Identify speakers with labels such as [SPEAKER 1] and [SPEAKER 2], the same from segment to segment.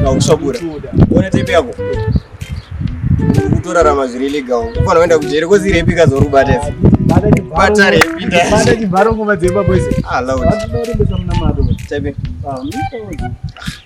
[SPEAKER 1] ndakusvabura ona tepe yako kutorarama zviri legal kufanira kuenda kujeri kozirepi kazori kubata izi bata repi bata chibharo ngoma dzemba kwese ah loud bata repi samna mado tepe ah mimi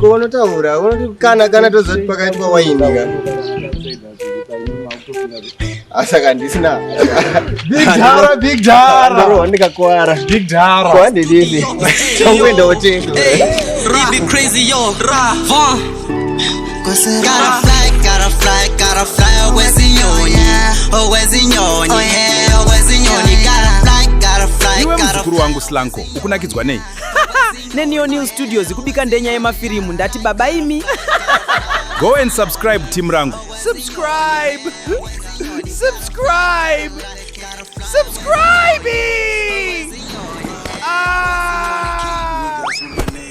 [SPEAKER 1] Kovonotaura unoti kana kana tozoti pakaitwa waini ka asaka handisina bigdara bigdara wandikakuwara bigdara kwandididi tongoenda wotenga
[SPEAKER 2] Gotta fly, gotta fly, gotta fly, always in your, yeah, always in your, yeah. muzukuru wangu slanko
[SPEAKER 3] ukunakidzwa nei neneo
[SPEAKER 4] new studios kubika ndenya yemafirimu ndati baba imi go
[SPEAKER 3] and subscribe team rangu subscribe
[SPEAKER 4] subscribe subscribing ah!